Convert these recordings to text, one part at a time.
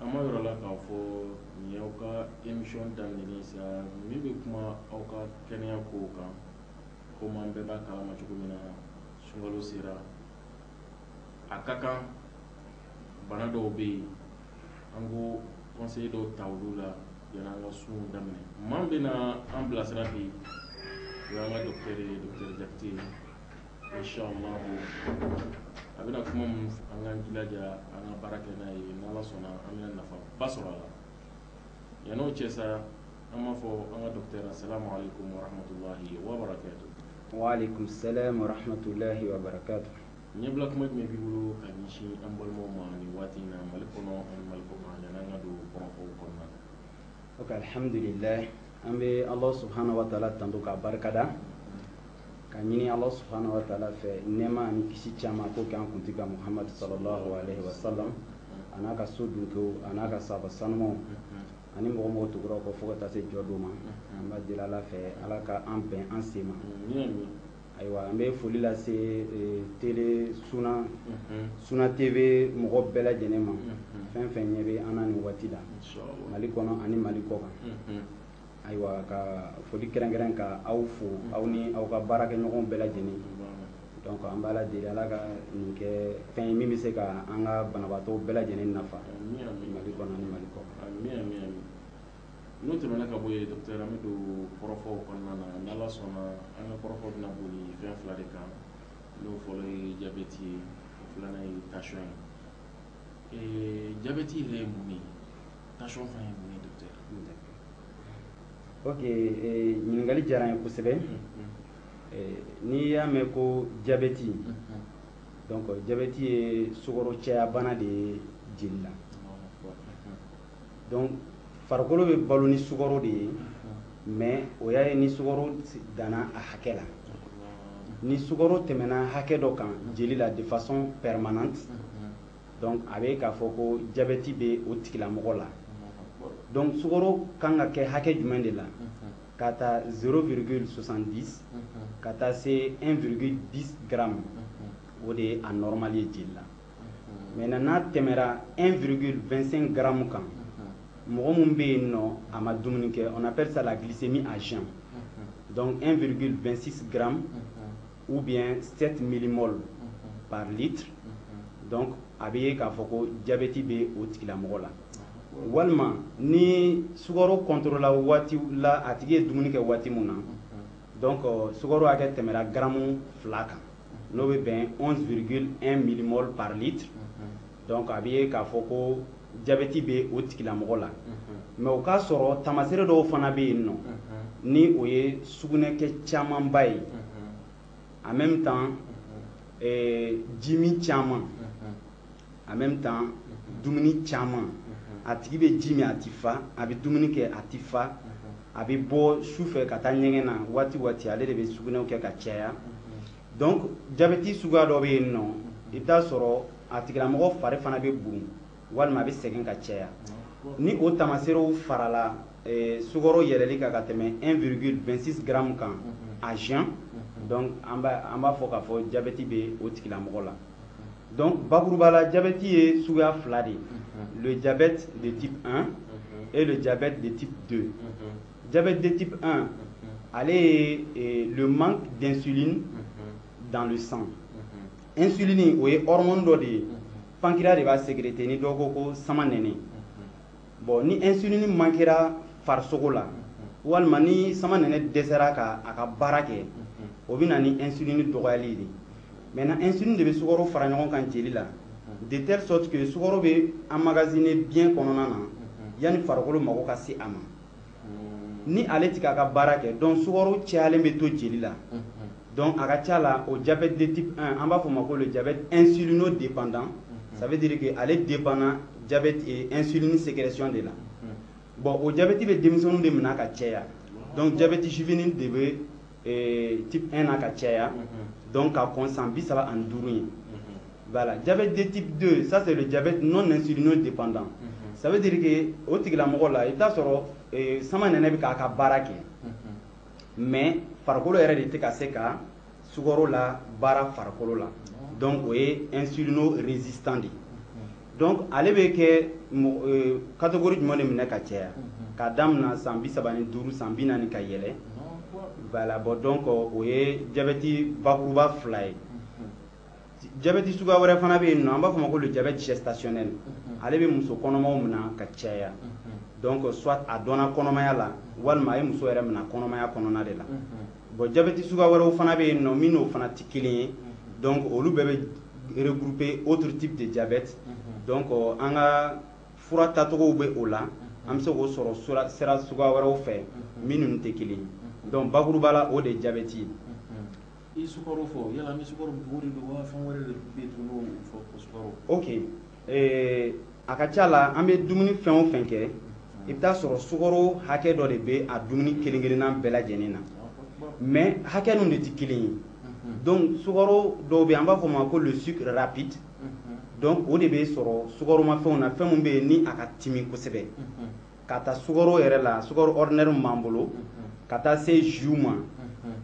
An ma yɔrɔ la k'a fɔ nin y'aw ka émission daminɛlen ye sa min bɛ kuma aw ka kɛnɛya kow kan komi an bɛɛ b'a kalama cogo min na sunkalo sera a ka kan bana dɔw bɛ yen an ko conseil dɔw ta olu la yanni an ka sun daminɛ maa bɛna an bilasira bi o y'an ka docteur ye docteur Jakite Inchallahu a bɛna kuma minnu fɔ an k'an jilaja an ka baara kɛ n'a ye n'Ala sɔnna an bɛna nafaba sɔrɔ a la yanni o cɛ sa an b'a fɔ an ka docteur assalamu aleyikomu wa rahmatulahi wa barakatu. Wa aleyikomu salaam wa rahmatulahi wa barakatu. Ɲɛbila kuma jumɛn b'i bolo ka ɲɛsin an balimaw ma nin waati in na Mali kɔnɔ ani Mali kɔ kan yanni an ka don kɔrɔfɔw kɔnɔna na. Ok alihamudulilaahi an bɛ Alahu subahana wataala tanu k'a barikada. ka ɲini ala subhanahu wa taala fɛ nɛɛma ani kisi caman k'o kɛ an kuntigi kan muhamadu sallallahu alaihi wa sallam a n'a ka so dunkew a n'a ka sahaba sanumaw ani mɔgɔ o mɔgɔ tugur'a kɔ fo ka taa se jɔ don ma an b'a deli ala fɛ ala ka an bɛn an sen ma ayiwa an bɛ foli lase eh, tele suna suna tv mɔgɔ bɛɛ lajɛlen ma fɛn fɛn ɲɛ bɛ an na nin waati la mali kɔnɔ ani mali kɔ kan Ayiwa ka foli kɛrɛnkɛrɛn ka aw fo aw ni aw ka baarakɛɲɔgɔnw bɛɛ lajɛlen donc an b'ala deli ala ka nin kɛ fɛn ye min bɛ se ka an ka banabaatɔw bɛɛ lajɛlen nafa mali kɔnɔ ani mali kɔ kan n'o tɛmɛna ka bɔ yen docteur an bɛ don kɔrɔfɔw kɔnɔna na ni ala sɔnna an ka kɔrɔfɔ bɛna boli fɛn fila de kan n'o fɔlɔ ye jabɛti ye o filanan ye tension ye jabɛti yɛrɛ ye mun ye tension fana ye mun ye docteur ok eh, ɲininkali diyara n ye kosɛbɛ eh, n'i y'a mɛn ko jabɛti donc jabɛti ye sukaro caya bana de ye jeli la donc farikolo bɛ balo ni sukaro de ye mais o y'a ye ni sukaro danna a hakɛ la ni sukaro tɛmɛna hakɛ dɔ kan jeli la de façon permanente Donc a bɛ k'a fɔ ko jabɛti bɛ o tigilamɔgɔ la. Donc sukaro kan ka kɛ hakɛ jumɛn de la? K'a ta 0,70 ka taa se 1,10 grammes o de ye a normal ye jeli la. Maintenant n'a tɛmɛra 1,25 grammes kan, mɔgɔ min bɛ yen nɔ a ma dumuni kɛ, on appelle ça la glycémie à jeun. Donc 1,26 grammes ou bien 7 millimol par litre donc a bɛ ye k'a fɔ ko jabɛti bɛ o tigilamɔgɔ la walima ni sukaro kɔntorola waati la a tigi ye dumuni kɛ waati min na donc euh, sukaro hakɛ tɛmɛra garamu fila kan n'o bɛ bɛn 11,1 millimol par litre Donc a bɛ ye k'a fɔ ko jabɛti bɛ o tigilamɔgɔ la mais o k'a sɔrɔ taamasere dɔw fana bɛ yen nɔ ni o ye sugunɛkɛ camanba ye en même temps euh, jimin caman en même temps dumuni caman a tigi bɛ ji min a tɛ fa a bɛ dumuni kɛ a tɛ fa a bɛ bɔ su fɛ ka taa ɲɛgɛn na waati waati ale de bɛ sugunɛw kɛ ka caya donc jabɛti suguya dɔ bɛ yen nɔ i bɛ t'a sɔrɔ a tigilamɔgɔ fari fana bɛ bon walima a bɛ sɛgɛn ka caya ni o taamaserew farala eh, sukaro yɛlɛli kan ka tɛmɛ 1,26 gramme kan à jeun donc an b'a fɔ k'a fɔ jabɛti bɛ o tigilamɔgɔ la donc bakuruba la jabɛti ye suguya fila de ye le diabète de type 1 et le diabète de type 2 diabète de type 1 ale ye eh, le manque d'insuline dans le sang insuline o ye hormone dɔ de ye pancréas de b'a sécréter ni dɔ ko ko samanɛnɛ bon ni insuline mankera farisogo la walima ni samanɛnɛ dɛsɛra ka a ka baara kɛ o bɛ na ni insuline dɔgɔyali de maintenant insuline de bɛ sukaro fara ɲɔgɔn kan jeli la de telle sorte que sukaro bɛ emmagasiner biɲɛ kɔnɔna na yanni farikolo mago ka se a ma ni ale tɛ k'a ka baara kɛ donc sukaro cayalen bɛ to jeli la donc a ka ca la o diabète de type 1 an b'a fɔ o ma ko le diabète insulino dépendant ça veut dire que ale dépend na diabète eh, insuline sécrétion de la bon o diabète bɛ denmisɛnninw de minɛ ka caya donc diabète juvénile de bɛ eh, type 1 na ka caya mhm. donc ka kɔn san bi saba ani duuru ye voilà diabète de type 2 ça c'est le diabète non insulino dépendant ça veut dire que o tigilamɔgɔ la i bɛ t'a sɔrɔ eh, samanɛnɛ bɛ k'a ka baara kɛ mais farikolo yɛrɛ de tɛ ka se ka sukaro labaara farikolo la donc o ye insulino résistant de ye Donc ale bɛ kɛ catégorie jumɛn de minɛ ka caya k'a daminɛ san bi saba ni duuru san bi naani ka yɛlɛ voilà bon donc o ye jabɛti bakuruba fila ye jabɛti suguya wɛrɛ fana bɛ yen nɔ an b'a fɔ o ma ko le diabète gestationnel ale bɛ muso kɔnɔmaw minɛ ka caya donc soit a dɔnna kɔnɔmaya la walima a ye muso yɛrɛ minɛ kɔnɔmaya kɔnɔna de la Bon jabɛti suguya wɛrɛw fana bɛ yen nɔ min n'o fana tɛ kelen ye donc olu bɛɛ bɛ regrouper autres types de diabète donc an ka fura tacogow bɛ o la an bɛ se k'o sɔrɔ sira suguya wɛrɛw fɛ min ninnu tɛ kelen ye donc bakuruba la o de ye jabɛti ye. I ye sukaro fɔ yala an bɛ sukaro mugu de don wa fɛn wɛrɛ de bɛ yen tuguni n'o fɔ ko sukaro. Ok Ee a ka ca la an bɛ dumuni fɛn o fɛn kɛ i bɛ t'a sɔrɔ sukaro hakɛ dɔ de bɛ a dumuni kelen-kelenna bɛɛ lajɛlen na mais hakɛ ninnu de tɛ kelen ye donc sukaro dɔw bɛ yen an b'a fɔ o ma ko le sucre rapide donc o de bɛ sɔrɔ sukaromafɛnw na fɛn min bɛ yen ni a ka timi kosɛbɛ k'a ta sukaro yɛrɛ la sukaro ordinaire min b'an bolo ka taa se jus ma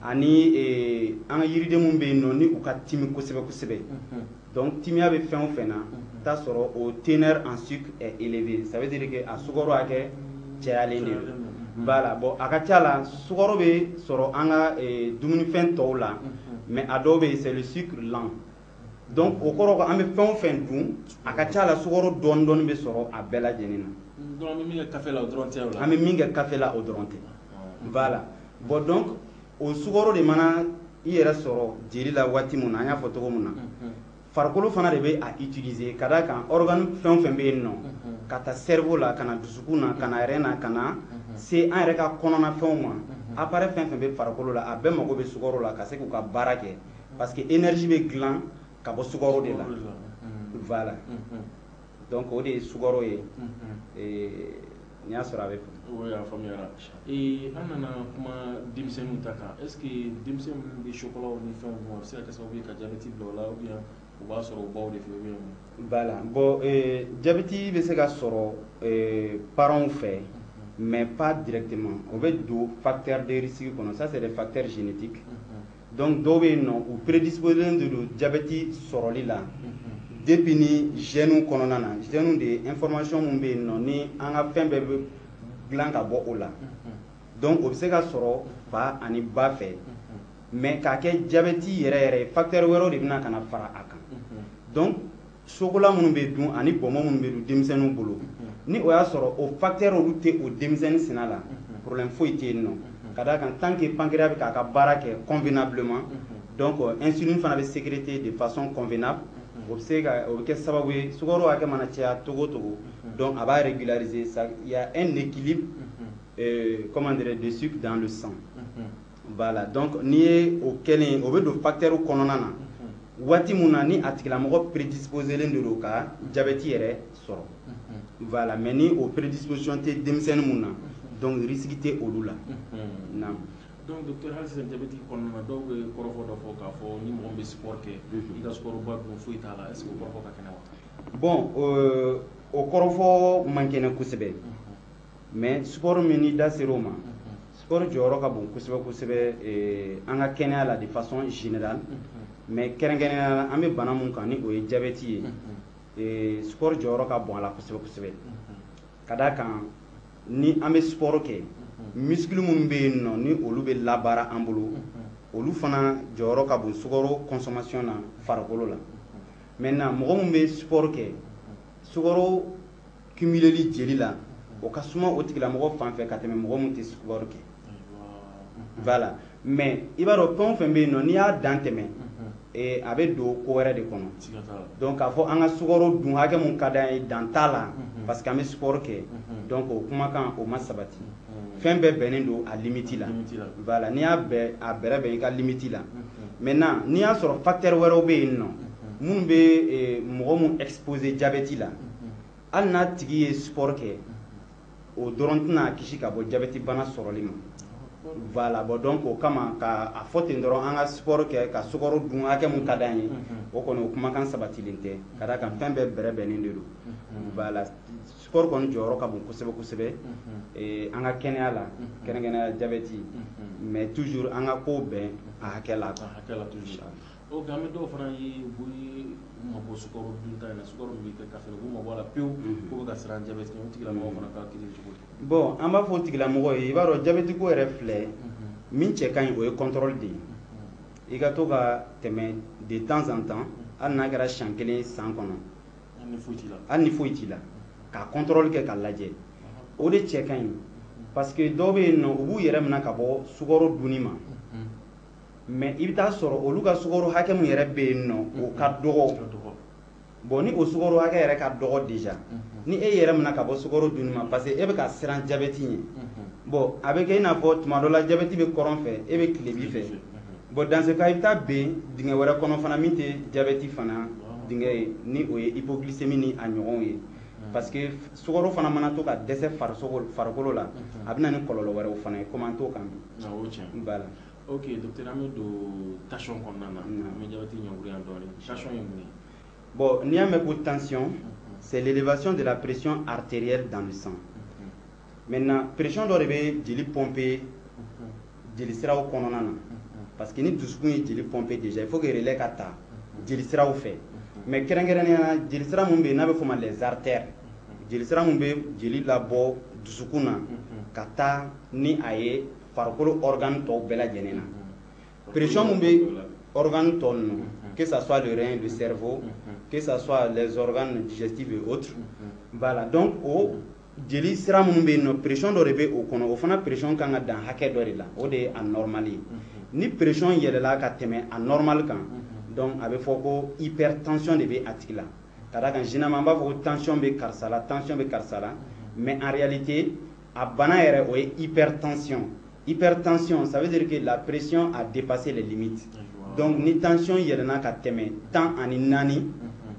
ani eh, an ka yiriden minnu bɛ yen nɔ ni u ka timi kosɛbɛ kosɛbɛ donc timiya bɛ fɛn o fɛn na t'a sɔrɔ o teneur en sucre est élevé ça veut dire que a sukaro hakɛ cayalen de don voilà bon a ka ca la sukaro bɛ sɔrɔ an ka eh, dumunifɛn tɔw la mais a dɔw bɛ yen c'est le sucre lent donc o kɔrɔ ko an bɛ fɛn o fɛn dun a ka ca la sukaro dɔɔni dɔɔni bɛ sɔrɔ a bɛɛ lajɛlen na an bɛ min kɛ kafe la o dɔrɔn tɛ voilà bon donc o sukaro de mana i yɛrɛ sɔrɔ jeli la waati min na an y'a fɔ cogo min na farikolo fana de bɛ a utiliser ka d'a kan organe fɛn o fɛn bɛ yen nɔ k'a ta cerveau la ka na dusukun na ka na rein na ka na se an yɛrɛ ka kɔnɔnafɛnw ma appareil fɛn o fɛn bɛ farikolo la a bɛɛ mago bɛ sukaro la ka se k'u ka baara kɛ parce que énergie bɛ dilan ka bɔ sukaro de la voilà donc o de ye sukaro ye n'i y'a sɔrɔ a bɛ oui a faamuyara an nana kuma denmisɛnninw ta kan est ce que denmisɛn minnu bɛ chocolat ni fɛnw dun a bɛ se ka kɛ sababu ye ka jabɛti bila o la ou bien u b'a sɔrɔ u baw de fɛ ou bien voilà bon jabɛti bɛ se ka sɔrɔ parents fɛ mais pas directement o bɛ don facteur de risque kɔnɔ ça c'est des facteurs génétiques donc dɔw bɛ yen nɔ u prédisposelen de don jabɛti sɔrɔli la depuis ni gènes kɔnɔna na gènes de ye information min bɛ yen nɔ ni an ka fɛn bɛɛ bɛ dilan ka bɔ o la donc o bɛ se ka sɔrɔ fa ani ba fɛ mais k'a kɛ jabɛti yɛrɛ yɛrɛ ye facteur wɛrɛw de bɛna ka na fara a kan donc chocolat minnu bɛ dun ani bɔnbɔn minnu bɛ dun denmisɛnninw bolo ni o y'a sɔrɔ o facteurs olu tɛ o denmisɛnnin sina la problème foyi tɛ yen nɔ ka d'a kan tant que pancréas bɛ k'a ka baara kɛ convenablement donc insuline fana bɛ sécréter de façon convenable o bɛ se ka o bɛ kɛ sababu ye sukaro hakɛ mana caya cogo o cogo donc a b'a régulariser il y a un équilibre comment dirais-je de sucre dans le sang. Voilà donc n'i ye o kɛlen o bɛ don facteur kɔnɔna na waati min na ni a tigilamɔgɔ prédisposelen de don ka jabɛti yɛrɛ sɔrɔ voilà mais ni o prédisposition tɛ denmisɛnnin min na donc risque tɛ olu la donc docteur jabɛti kɔnɔna na dɔw bɛ kɔrɔfɔ dɔ fɔ k'a fɔ ni mɔgɔ bɛ sport kɛ i ka sukaroba dun foyi t'a la est ce que o kɔrɔfɔ ka kɛnɛ bon o kɔrɔfɔ man kɛnɛ kosɛbɛ mais sport min n'i da ser'o ma sport jɔyɔrɔ ka bon kosɛbɛ kosɛbɛ eh, an ka kɛnɛya la de façon générale mais kɛrɛnkɛrɛnnenya la an bɛ bana mun kan ni o ye diabète ye eh, sport jɔyɔrɔ ka bon a la kosɛbɛ kosɛbɛ ka d'a kan ni an bɛ sport kɛ muscle minnu bɛ yen nɔ ni olu bɛ labaara an bolo olu fana jɔyɔrɔ ka bon sukaro consommation na farikolo la maintenant mɔgɔ min bɛ sport kɛ sukaro cumuleli jeli la o ka suma o tigilamɔgɔ fan fɛ ka tɛmɛ mɔgɔ min tɛ sport kɛ voilà mais i b'a dɔn fɛn o fɛn bɛ yen nɔ n'i y'a dan tɛmɛ eh, a bɛ don ko wɛrɛ de kɔnɔ donc k'a fɔ an ka sukaro dun hakɛ mun ka d'an ye dan t'a la parce que an bɛ sport kɛ donc o kumakan o ma sabati fɛn bɛɛ bɛnnen don a limiti la voilà n'i y'a a bɛrɛ bɛn i ka limiti la maintenant n'i y'a sɔrɔ facteur wɛrɛw bɛ yen nɔ minnu bɛ eh, mɔgɔ mun exposer jabɛti la hali n'a tigi ye sport kɛ o dɔrɔn tɛna a kisi ka bɔ jabɛti bana sɔrɔli ma voilà bon donc o kama ka a fɔ ten dɔrɔn an ka sport kɛ ka sukaro dun hakɛ mun ka d'an ye o kɔni o kumakan sabatilen tɛ ka d'a kan fɛn bɛɛ bɛrɛ bɛnnen de don voilà Sport kɔni jɔyɔrɔ ka bon kosɛbɛ kosɛbɛ ee an ka kɛnɛya la kɛrɛnkɛrɛnnenya jabɛti mais toujours an ka kow bɛn a hakɛ la quoi a hakɛ la toujours ok an bɛ dɔw fana ye u bɛ u mabɔ sukaro dunta in na sukaro min bɛ kɛ kafe la u b'u mabɔ a la pewu k'u bɛ ka siran jabɛti ɲɛ o tigilamɔgɔ fana ka kiri cogo di bon an b'a fɔ o tigilamɔgɔ ye i b'a dɔn jabɛti ko yɛrɛ filɛ min cɛ ka ɲi o ye contrôle de ye i ka to ka tɛmɛ de temps en temps hali n'a kɛra siɲɛ kelen san kɔnɔ hali ni foyi t'i la ka kɔntɔrɔli kɛ k'a lajɛ o de cɛ ka ɲi parce que dɔw bɛ yen nɔ u b'u yɛrɛ minɛ ka bɔ sukaro dunni ma mais i bɛ taa sɔrɔ olu ka sukaro hakɛ min yɛrɛ bɛ yen nɔ o ka dɔgɔ bon ni o sukaro hakɛ yɛrɛ ka dɔgɔ déjà ni e yɛrɛ minɛ ka bɔ sukaro dunni ma parce que e bɛ ka siran jabɛti ɲɛ bon a bɛ kɛ i n'a fɔ tuma dɔ la jabɛti bɛ kɔrɔn fɛ e bɛ tilebi fɛ Bon dans ce cas i bɛ taa ben dingɛ wɛrɛ kɔnɔ fana min tɛ diabète fana dingɛ ye ni o ye hypoglycémie ni a ɲɔgɔnw ye parce que sukaro fana mana to ka dɛsɛ farisogo farikolo la a bɛ na ni kɔlɔlɔ wɛrɛw fana ye komi an t'o kan bi. Awɔ o ye tiɲɛ ye. Voilà. Ok docteur an bɛ don tension kɔnɔna na an bɛ diabète jɛngɛ yan dɔɔni tension ye mun ye? Bon n'i y'a mɛn ko tension c'est l'élévation de la pression artérielle dans le sang maintenant pression dɔ de bɛ jeli pomper jeli siraw kɔnɔna na parce que ni dusukun ye jeli pomper déjà il faut que relais ka ta jeli siraw fɛ mais kɛrɛnkɛrɛnnenya la jeli sira min bɛ yen n'a bɛ f'o ma les artères jeli sira min bɛ jeli labɔ dusukun na ka taa ni a ye farikolo organe tɔw bɛɛ lajɛlen na pression min bɛ organe tɔ ninnu que ça soit le rein le cerveau que ça soit les organes digestifs et autres voilà donc o jeli sira minnu bɛ yen nɔ pression dɔ de bɛ o kɔnɔ o fana pression kan ka dan hakɛ dɔ de la o de ye a normal ye ni pression yɛlɛna ka tɛmɛ a normal kan donc a bɛ fɔ ko hypertension de bɛ a tigi la ka d'a kan généralement an b'a fɔ ko tension bɛ karisa la tension bɛ karisa la mais en réalité a bana yɛrɛ o ye hypertension hypertension ça veut dire que la pression a dépassé les limites donc ni tension yɛlɛna ka tɛmɛ tan ani naani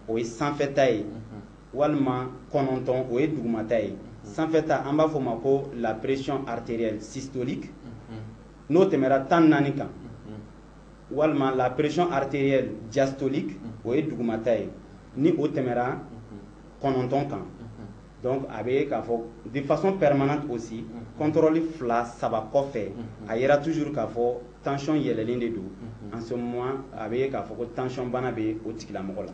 o ye sanfɛta ye walima kɔnɔntɔn o ye dugumata ye sanfɛta an b'a fɔ o ma ko la pression artérielle systolique n'o tɛmɛra tan naani kan walima la pression artérielle diastolique o ye dugumata ye ni o tɛmɛra kɔnɔntɔn kan donc a bɛ ye k'a fɔ de façon permanente aussi contrôle fila saba kɔfɛ a yera toujours k'a fɔ tension yɛlɛlen de don en ce moment a bɛ ye k'a fɔ ko tension bana bɛ o tigilamɔgɔ la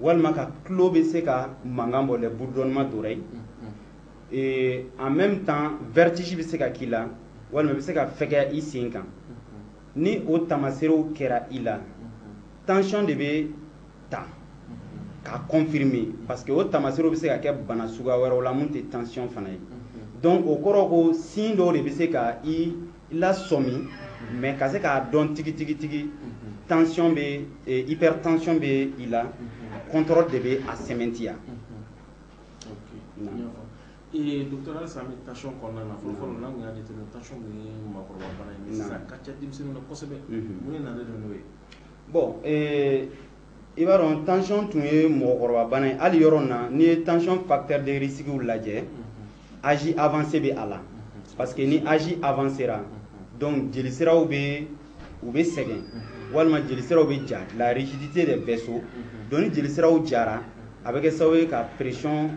walima ka tulo bɛ se ka mankan bɔ les bourdonnements d'oreille en même temps vertige bɛ se ka k'i la walima i bɛ se ka fɛgɛya i sen kan ni o taamaseerew kɛra i la tension de bɛ ta k'a confirmer parce que o taamaseerew bɛ se ka kɛ bana suguya wɛrɛw la mun tɛ tension fana ye donc o kɔrɔ ko signe dɔw de bɛ se ka i lasɔmi mais ka se k'a dɔn tigitigitigi tension bɛ eh, hypertension bɛ i la contrôle de bɛ a sɛmɛntiya eh, docteur halisa an bɛ tension kɔnɔna na fɔlɔfɔlɔ n'an tun y'a jateminɛ tension tun ye maakɔrɔba bana ye sisan ka ca denmisɛnninw na kosɛbɛ mun de nalen don n'o ye bon eh, i b'a dɔn tension tun ye mɔgɔkɔrɔba bana ye hali yɔrɔ na n'i ye tension facteur de risque lajɛ âge avancé bɛ a la parce que ni âge avancera donc jelisiraw bɛ u bɛ sɛgɛn walima jelisiraw bɛ ja la rigidité des vaisseaux donc ni jelisiraw jara a bɛ kɛ sababu ye ka pression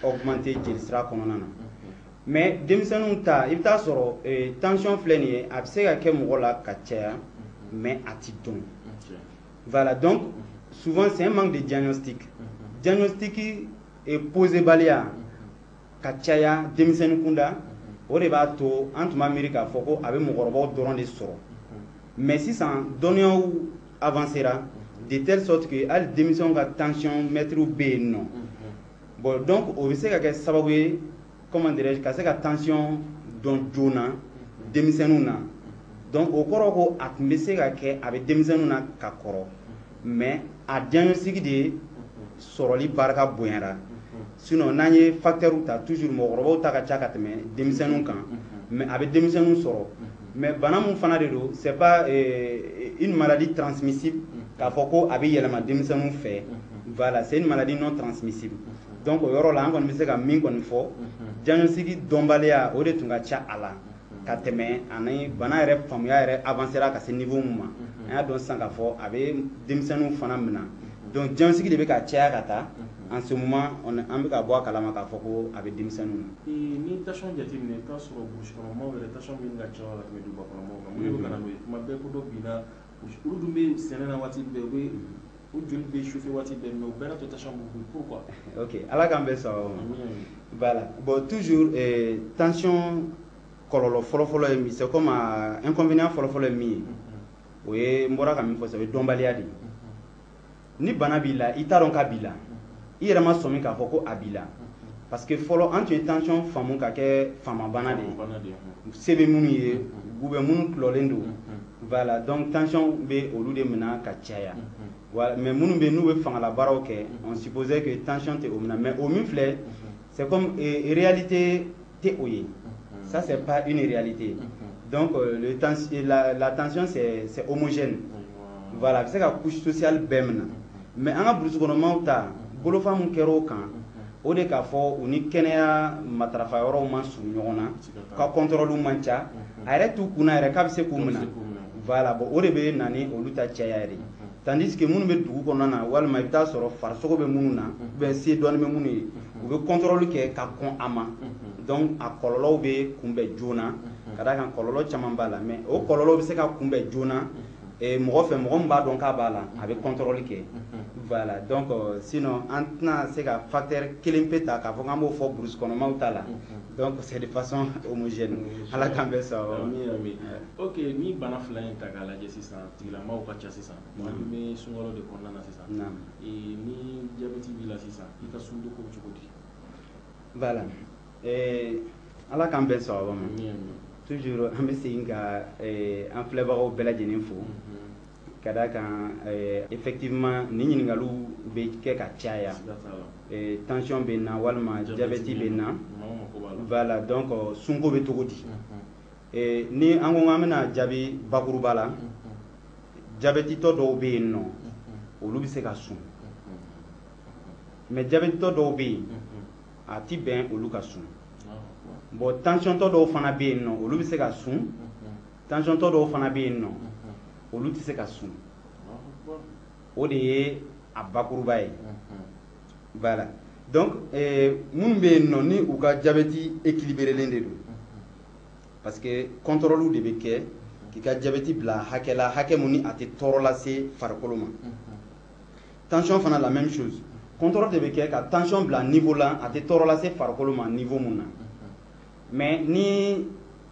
augmenter jelisira kɔnɔna na mais denmisɛnninw ta i bɛ t'a sɔrɔ eh, tension filɛ nin ye a bɛ se ka kɛ mɔgɔ la ka caya mais a tɛ dɔn Voilà, donc souvent c'est un manque de diagnostic. Diagnostic posé baliya ka caya denmisɛnnin kunda o de b'a to an tun b'a miiri k'a fɔ ko a bɛ mɔgɔkɔrɔbaw dɔrɔn de sɔrɔ mais sisan dɔnniyaw avancera de telle sorte que hali denmisɛnw ka tensiomètres bɛ yen nɔ bon donc o bɛ se ka kɛ sababu ye comment dirais-je ka se ka tension dɔn joona denmisɛnninw na donc o kɔrɔ ko a tun bɛ se ka kɛ a bɛ denmisɛnninw na ka kɔrɔ mais a diagnostic de sɔrɔli barika bonyara sinon n'an ye facteurs ta toujours mɔgɔkɔrɔbaw ta ka ca ka tɛmɛ denmisɛnninw kan mais a bɛ denmisɛnninw sɔrɔ mais bana min fana de don c'est pas euh, une maladie transmissible k'a fɔ ko a bɛ yɛlɛma denmisɛnninw fɛ voilà c'est une maladie non transmissible donc o yɔrɔ la an kɔni bɛ se ka min kɔni fɔ diagnostic dɔnbaliya o de tun ka ca a la ka tɛmɛ ani bana yɛrɛ faamuya yɛrɛ avancera ka se niveau min ma an y'a dɔn sisan k'a fɔ a bɛ denmisɛnninw fana minɛ donc diagnostic de bɛ ka caya ka taa en ce moment an bɛ ka bɔ a kalama k'a fɔ ko a bɛ denmisɛnninw na. Ni tension jateminɛ i bɛ taa sɔrɔ burusi kɔnɔ maaw yɛrɛ tension bɛ ɲini ka caya ka tɛmɛ duguba kɔnɔ maaw kan mun de bɛ ka na n'o ye tuma bɛɛ ko dɔ binna olu dun bɛ sɛnɛ na waati bɛɛ u bɛ u joli bɛ chauffer waati bɛɛ mais o bɛɛ n'a ta tension b'u pourquoi ok ala k'an bɛn sawaba ma voilà bon toujours eh, tension kɔlɔlɔ fɔlɔfɔlɔ ye min c'est comme inconvénient fɔlɔfɔlɔ ye min ye o ye n bɔra ka min fɔ sa o ye dɔnbaliya de ye ni bana b'i la i t'a dɔn k'a b'i la i yɛrɛ ma sɔmi k'a fɔ ko a b'i la parce que fɔlɔ an tun ye tension faamu ka kɛ faamabana de ye se bɛ minnu ye ou bien minnu tulɔlen don voilà donc tension bɛ olu de minɛ ka caya voilà mais minnu bɛ n'u bɛ fangalabaaraw kɛ on supposait que tension tɛ o minɛ mais o min filɛ c'est comme réalité tɛ o ye ça c'est pas une réalité donc euh, le tens la, la tension c'est c'est homogène voilà a bɛ se ka couche sociale bɛɛ minɛ mais an ka burusi kɔnɔmaw ta bolofa min kɛra o kan o de k'a fɔ u ni kɛnɛya matarafa yɔrɔw man surun ɲɔgɔn na ka kɔntɔrɔliw man ca a yɛrɛ t'u kunna yɛrɛ k'a bɛ se k'u minɛ voilà bon o de bɛ na ni olu ta caya yɛrɛ tandis que minnu bɛ dugu kɔnɔna na walima i bɛ taa sɔrɔ farisogo bɛ minnu na ou bien se dɔɔni bɛ minnu ye u bɛ kɔntɔrɔli kɛ ka kɔn a ma donc a kɔlɔlɔw bɛ kunbɛn joona ka d'a kan kɔlɔlɔ caman b'a la mais o kɔlɔlɔw bɛ se ka kunbɛn joona eh, mɔgɔ fɛ mɔgɔ min b'a dɔn k'a b'a la a bɛ kɔntɔrɔli kɛ voilà donc euh, sinon an tɛna se ka facteur kelen pe ta k'a fɔ k'an b'o fɔ burusi kɔnɔmaw ta la donc c'est de façon homogène ala k'an bɛn sawaba ma ok ni bana fila in ta k'a lajɛ sisan Tigilamaw ka ca sisan maa min bɛ sunkalo de kɔnɔna na sisan ni jabɛti b'i la sisan i ka sunko cogo di voilà ala k'an bɛn sawaba ma toujours an bɛ segin ka an filɛbagaw bɛɛ lajɛlen fo ka d'a kan effectivement ni ɲininkaliw bɛ kɛ ka caya tension bɛ n na walima jabɛti bɛ n na voilà donc sunko bɛ cogo di Eh, ni an ko an bɛna jaabi bakuruba la jabɛtitɔ dɔw bɛ yen nɔ olu bɛ se ka sun mais jabɛtitɔ dɔw bɛ yen a ti bɛn olu ka sun bon tansiyɔntɔ dɔw fana bɛ yen nɔ olu bɛ se ka sun tansiyɔntɔ dɔw fana bɛ yen nɔ olu tɛ se ka sun o de ye a bakuruba ye voilà donc eh, minnu bɛ yen nɔ ni u ka jabɛti ekiliberelen de don parce que contrôle de bɛ kɛ k'i ka jabɛti bila hakɛ la hakɛ mun ni a tɛ tɔɔrɔ lase farikolo ma tension fana la même chose contrôle de bɛ kɛ ka tension bila niveau la a tɛ tɔɔrɔ lase farikolo ma niveau mun na mais ni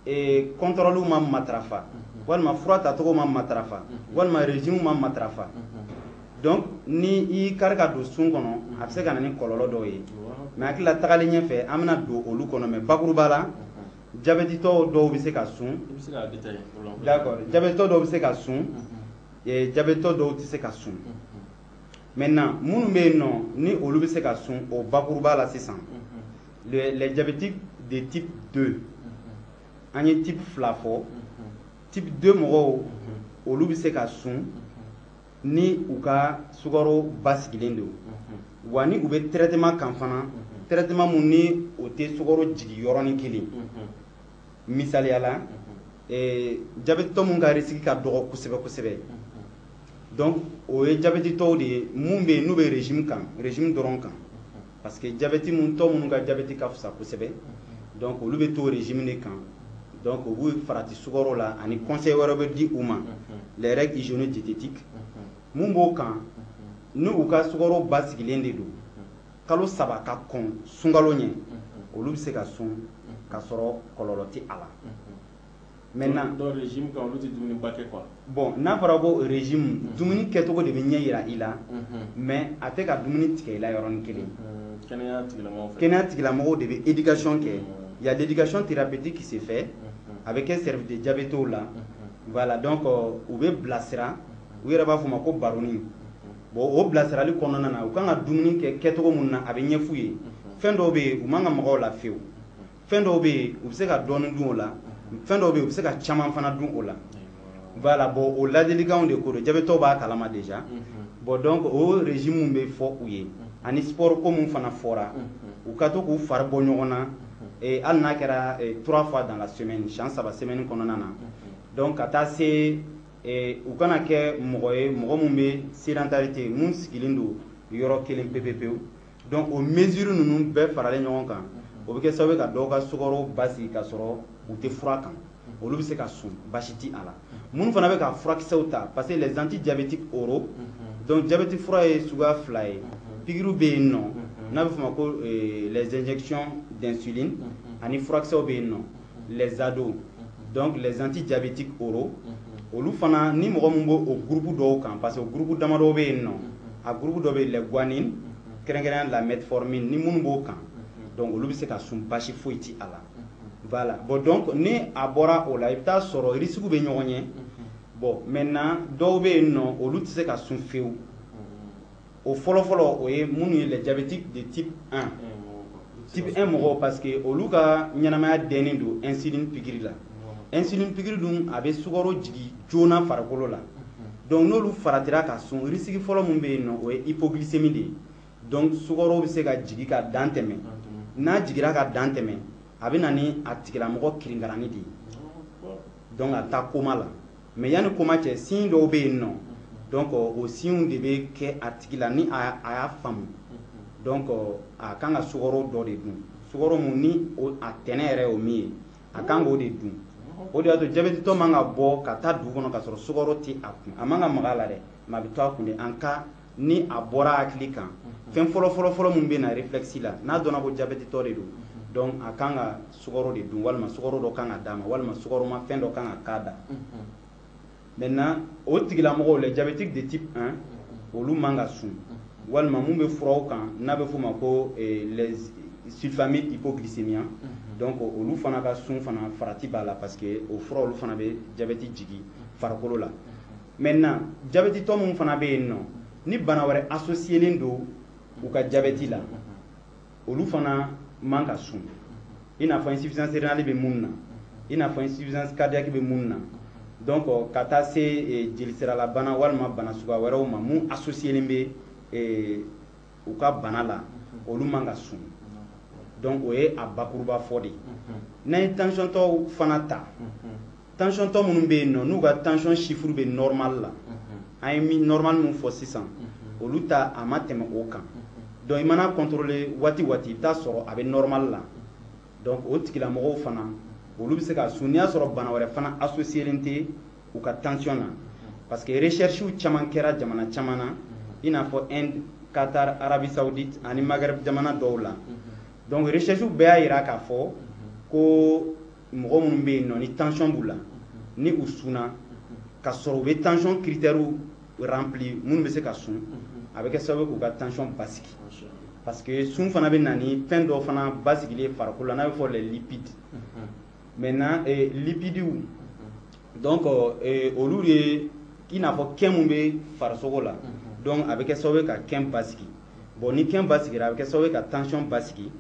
eh, contrôle ma matarafa walima fura tacogo ma matarafa walima régime ma matarafa donc ni i y'i kari ka don sun kɔnɔ a bɛ se ka na ni kɔlɔlɔ dɔw ye mais hakili la tagalen ɲɛfɛ an bɛna don olu kɔnɔ mais bakuruba la jabɛtitɔ dɔw bɛ se ka sun d'accord jabɛtitɔ dɔw bɛ se ka sun jabɛtitɔ dɔw tɛ se ka sun maintenant minnu bɛ yen nɔ ni olu bɛ se ka sun o bakuruba la sisan les diabétiques de type 2 an ye type fila fɔ type 2 mɔgɔw olu bɛ se ka sun ni u ka sukaro basigilen don wa ni u bɛ traitement kan fana traitement mun ni o tɛ sukaro jigi yɔrɔnin kelen misaliya la jabɛtitɔ mun ka risque ka dɔgɔ kosɛbɛ kosɛbɛ donc o ye jabɛtitɔw de ye minnu bɛ yen n'u bɛ régime kan régime dɔrɔn kan parce que jabɛti mun tɔ minnu ka jabɛti ka fisa kosɛbɛ donc olu bɛ to régime de kan donc u b'u farati sukaro la ani conseil wɛrɛ bɛ di u ma les règles hygiéno-diététiques mun b'o kan ni u ka sukaro basigilen de don kalo saba ka kɔn sunkalo ɲɛ olu bɛ se ka sun ka sɔrɔ kɔlɔlɔ tɛ a la quoi bon n'a fɔra ko régime dumuni kɛcogo de bɛ ɲɛ yira i la mais a tɛ ka dumuni tigɛ i la yɔrɔnin kelen kɛnɛya tigilamɔgɔw de bɛ éducation kɛ il y a l'éducation thérapeutique qui se fait a bɛ kɛ service de diabéto la voilà donc u bɛ bilasira u yɛrɛ b'a fɔ ma ko baroni bon o bilasirali kɔnɔna na u ka kan ka dumuni kɛ kɛcogo mun na a bɛ ɲɛf'u ye fɛn dɔw bɛ yen u man kan ka maga o la fewu fɛn dɔw bɛ yen u bɛ se ka dɔɔnin dun o la fɛn dɔw bɛ yen u bɛ se ka caman fana dun o la voilà bon o ladilikanw de ko don jabɛtɔw b'a kalama déjà mm-hmm. bon donc o régime min bɛ fɔ u ye mm-hmm. ani sport ko min fana fɔra mm-hmm. u ka to k'u fari bɔ ɲɔgɔn na eh, hali n'a kɛra eh, trois fois dans la semaine siɲɛ saba semaine kɔnɔna na donc ka taa se eh, u kana kɛ mɔgɔ ye mɔgɔ min bɛ sédentarité mun sigilen don yɔrɔ kelen pepepewu donc o mesure ninnu bɛɛ faralen ɲɔgɔn kan o bɛ kɛ sababu ye ka dɔw ka sukaro basigi ka sɔrɔ u tɛ fura kan olu bɛ se ka sun baasi ti a la minnu fana bɛ ka furakisɛw ta parce que les antidiabétiques oraux donc jabɛti fura ye suguya fila ye pikiriw bɛ yen nɔ n'a bɛ f'o ma ko les injections d'insuline ani furakisɛw bɛ yen nɔ les ADO donc les antidiabétiques oraux olu fana ni mɔgɔ min b'o o gurupu dɔw kan parce que o gurupu damadɔw bɛ yen nɔ a gurupu dɔ bɛ yen les biguanides kɛrɛnkɛrɛnya la metformine ni minnu b'o kan donc olu bɛ se ka sun basi foyi ti a la voilà bon donc ni a bɔra o la i bɛ t'a sɔrɔ risque bɛ ɲɔgɔn ɲɛ bon maintenant dɔw bɛ yen nɔ olu tɛ se ka sun fewu o fɔlɔfɔlɔ o ye minnu ye les diabétiques de type 1 type 1 mɔgɔw parce que olu ka ɲɛnamaya dɛnnen don insuline pikiri la insuline pikiri dun a bɛ sukaro jigi joona farikolo la donc n'olu faratira ka sun risque fɔlɔ min bɛ yen nɔ o ye hypoglycémie de ye donc sukaro bɛ se ka jigi ka dan tɛmɛ n'a jigira ka dan tɛmɛ a bɛ na ni a tigilamɔgɔ kirinkaranni de ye donc a bɛ taa koma la Mais yanni koma cɛ signe dɔw bɛ yen nɔ donc o signes de bɛ kɛ a tigi la ni a y'a faamu donc a kan ka sukɔrɔ dɔ de dun sukɔrɔ min ni a tɛnɛ yɛrɛ y'o min ye a kan k'o de dun o de y'a to jabɛtitɔ man ka bɔ ka taa dugu kɔnɔ ka sɔrɔ sukɔrɔ tɛ a kun a man ka maga a la dɛ mais a bɛ to a kun de en cas ni a bɔra hakili kan fɛn fɔlɔfɔlɔ min bɛ na réflexe la n'a dɔnna ko jabɛtitɔ de don donc a kan ka sukaro de dun walima sukaro dɔ kan ka d'a ma walima sukaroma fɛn dɔ kan ka k'a da maintenant o tigilamɔgɔw les diabétiques de type 1 olu man ka sun walima mun bɛ furaw kan n'a bɛ f'o ma ko eh, les sulfamides hypoglycémiants donc olu fana ka sun fana farati b'a la parce que o fura olu fana bɛ jabɛti jigi farikolo la Maintenant jabɛtitɔ minnu fana bɛ yen nɔ ni bana wɛrɛ associelen don u ka jabɛti la olu fana man ka sun i n'a fɔ insuffisance rénale bɛ minnu na i n'a fɔ insuffisance cardiaque bɛ minnu na donc ka taa se eh, jelisiralabana walima bana suguya wɛrɛw ma mun associelen bɛ eh, u ka bana la olu man ka sun donc o ye a bakuruba fɔ de ye n'an ye tansiyɔntɔw fana ta tansiyɔntɔ minnu bɛ yen nɔ n'u ka tension chiffre bɛ normal la an ye normal min fɔ sisan olu ta a ma tɛmɛ o kan donc i mana contrôler waati waati i bɛ t'a sɔrɔ a bɛ normal la donc o tigilamɔgɔw fana olu bɛ se ka sun n'i y'a sɔrɔ bana wɛrɛ fana associélen tɛ u ka tension na parce que recherches caman kɛra jamana caman na i n'a fɔ Inde Qatar Arabie Saoudite ani Maghreb jamana dɔw la donc recherches bɛɛ y'a jira k'a fɔ ko mɔgɔ minnu bɛ yen nɔ ni tension b'u la ni u sunna ka sɔrɔ u bɛ tension critères rempli minnu bɛ se ka sun a bɛ kɛ sababu k'u ka tension basigi parce que sun fana bɛ na ni fɛn dɔ fana basigilen farikolo la n'a bɛ fɔ les lipides maintenant eh, lipidiw donc eh, olu de ye i n'a fɔ kɛn min bɛ farisogo la mhm. donc a bɛ kɛ sababu ye ka kɛn basigi bon ni kɛn basigira a bɛ kɛ sababu ye ka tension basigi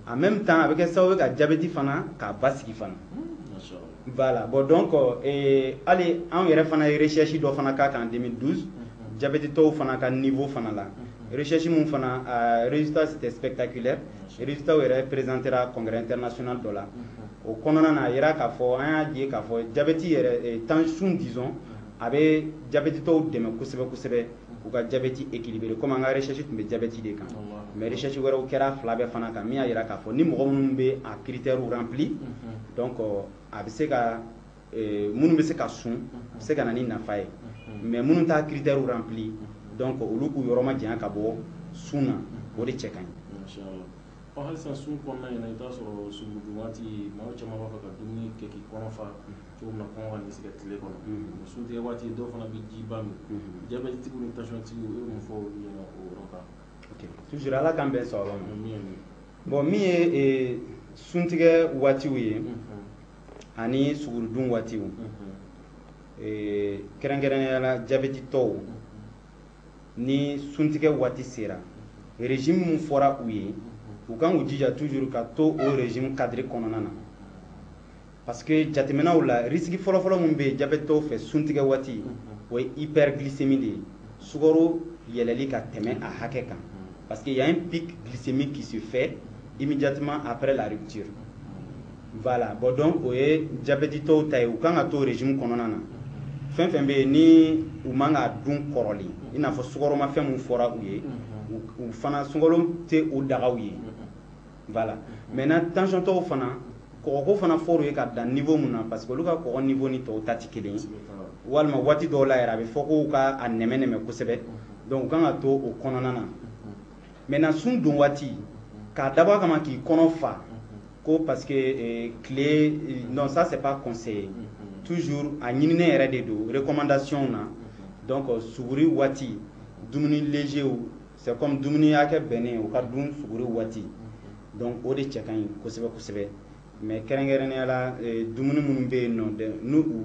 en même temps a bɛ kɛ sababu ye ka jabɛti fana k'a basigi fana hmm, voilà bon donc eh, hali an yɛrɛ fana ye recherche dɔ fana k'a kan 2012 jabɛtitɔw fana ka niveau fana la Recherche min fana a résultat c'était spectaculaire résultat yɛrɛ présentera congrès international dɔ la o kɔnɔna na a yira k'a fɔ an y'a ye k'a fɔ jabɛti yɛrɛ eh, sun disons a bɛ jabɛtitɔw dɛmɛ kosɛbɛ kosɛbɛ k'u ka jabɛti équilibré comme an ka recherche tun bɛ jabɛti de kan mais recherche wɛrɛw kɛra fila bɛɛ fana kan min y'a yira k'a fɔ ni mɔgɔ minnu bɛ a critères rempli donc a bɛ se ka eh, minnu bɛ se ka sun bɛ se ka na ni nafa ye mais minnu t'a critères rempli donc olu k'u yɔrɔ ma janya ka bɔ sun na o de cɛ ka ɲi ɔ halisa sun kɔnɔna in na i t'a sɔrɔ sugurudun waati maaw caman b'a fɛ ka dumuni kɛ k'i kɔnɔ fa cogo min na kɔngɔ kan'i sɛgɛn tile kɔnɔ o suntigɛ waati dɔw fana bɛ jiba min jabɛtitigiw ni tensiontigiw i bɛ mun fɔ olu ɲɛna o yɔrɔ kan toujours ala k'an bɛn sababa ma bon min ye eh, suntigɛ waatiw ye ani sugurudun waatiw kɛrɛnkɛrɛnnenya la jabɛtitɔw ni suntigɛ waati sera régime min fɔra u ye u kan k'u jija toujours ka to o régime cadre kɔnɔna na parce que jateminɛw la risque fɔlɔfɔlɔ min bɛ jabɛtitɔw fɛ suntigɛ waati o ye hyperglycémie de ye sukaro yɛlɛli ka tɛmɛ a hakɛ kan parce que y a un pic glycémique qui se fait immédiatement après la rupture Voilà bon donc o ye jabɛtitɔw ta ye u kan ka to régime kɔnɔna na fɛn fɛn bɛ yen ni u man ka dun kɔrɔlen i n'a fɔ sukaromafɛn min fɔra u ye u fana sunkalo tɛ o daga u ye voilà maintenant tensiontɔw fana kɔgɔko fana fɔr'u ye ka dan niveau min na parce que olu ka kɔgɔ niveau ni tɔw ta tɛ kelen ye walima waati dɔw la yɛrɛ a bɛ fɔ ko u ka a nɛmɛ nɛmɛ kosɛbɛ donc u kan ka to o kɔnɔna na maintenant sun don waati k'a dabɔ a kama k'i kɔnɔ fa ko parce que eh, tile eh, non ça c'est pas conseillé toujours a ɲininen yɛrɛ de don recommandation na donc euh, suguri waati dumuni légerw c'est comme dumuni hakɛ bɛnnen u ka dun suguri waati donc o de cɛ ka ɲi kosɛbɛ kosɛbɛ mais kɛrɛnkɛrɛnnenya la eh, dumuni minnu bɛ yen nɔ de- n'u u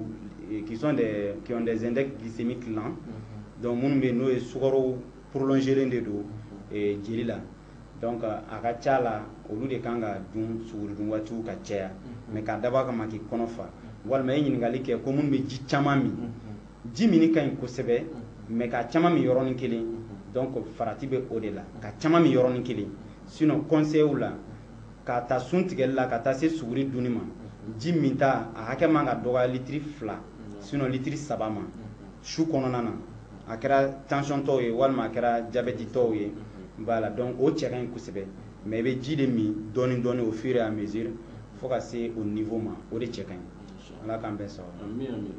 eh, qui sont des qui ont des index glycémiques lents donc minnu bɛ yen n'o ye sukaro prolongelen de don eh, jeli la donc a ka ca la olu de kan ka dun suguridun waatiw ka caya mm-hmm. mais k'a dabɔ a kama k'i kɔnɔ fa mm-hmm. walima i ye ɲininkali kɛ ko minnu bɛ ji caman min mm-hmm. ji minni ka ɲi kosɛbɛ mais k'a caman min yɔrɔnin kelen donc farati bɛ o de la k'a caman min yɔrɔnin kelen sinon conseilw la k'a ta sun tigɛli la ka taa se suguri dunni ma ji minta a hakɛ man ka dɔgɔya litiri fila sinon litiri saba ma su kɔnɔna na a kɛra tensiontɔw ye walima a kɛra jabɛtitɔw ye voilà donc o cɛ ka ɲi kosɛbɛ mais i bɛ ji de min dɔɔni dɔɔni au fur et à mesure fo ka se o niveau ma o de cɛ ka ɲi ala k'an bɛɛ sababa ami ami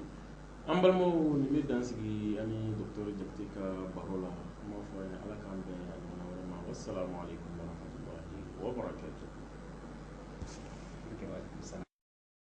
an balimaw nin bɛ dan sigi ani docteur jakite ka baro la an b'a fɔ ala k'an bɛn a ɲɔgɔnna wɛrɛ ma wassalamu alaikum warahmatullahi wabarakatuh